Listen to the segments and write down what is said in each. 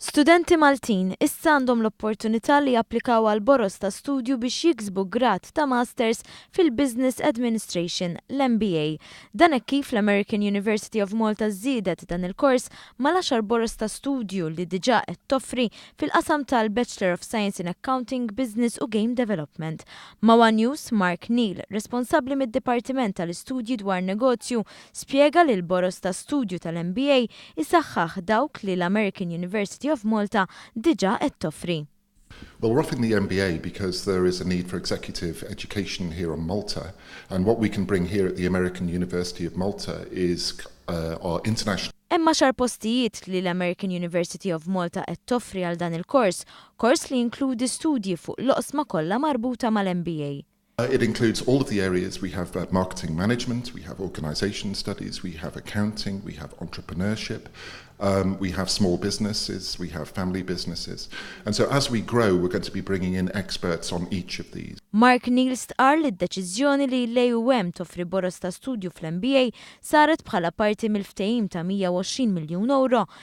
Studenti Maltin issa għandhom l-opportunità li japplikaw għal boroż ta' studju biex jiksbu grad ta' Masters fil-Business Administration, l-MBA. Dan hekk kif l-American University of Malta żiedet dan il-kors mal-għaxar boroż ta' studju li diġà qed toffri fil-qasam tal-Bachelor of Science in Accounting, Business u Game Development. Ma' one News, Mark Neal, responsabbli mid-Dipartiment tal-Istudji dwar Negozju, spjega li l-boroż ta' studju tal-MBA jsaħħaħ dawk li l-American University of Malta diġà qed toffri. Well, we're offering the MBA because there is a need for executive education here on Malta and what we can bring here at the American University of Malta is our international. Hemm għaxar postijiet li l-American University of Malta qed toffri għal dan il-kors Kors li jinkludi studji fuq l-oqsma kollha marbuta mal-MBA. It includes all of the areas, we have marketing management, we have organisation studies, we have accounting, we have entrepreneurship, we have small businesses, we have family businesses. And so as we grow, we're going to be bringing in experts on each of these. Mark Neal stqarr li d-deċiżjoni li l-AUM toffri boroż ta' studju fl-MBA saret bħala parti mill-ftehim ta' 120 miljun ewro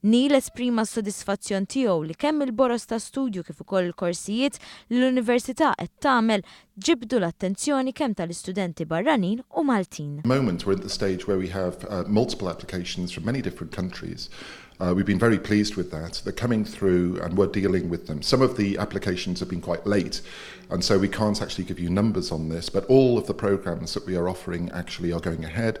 Neil esprima s-sodisfazzjon tiegħu li kemm il-boroż ta' studju kif ukoll il-korsijiet li l-Università qed tagħmel ġibdu l-attenzjoni kemm tal-istudenti barranin u Maltin. At the moment we're at the stage where we have multiple applications from many different countries. We've been very pleased with that. They're coming through and we're dealing with them. Some of the applications have been quite late and so we can't actually give you numbers on this, but all of the programs that we are offering actually are going ahead.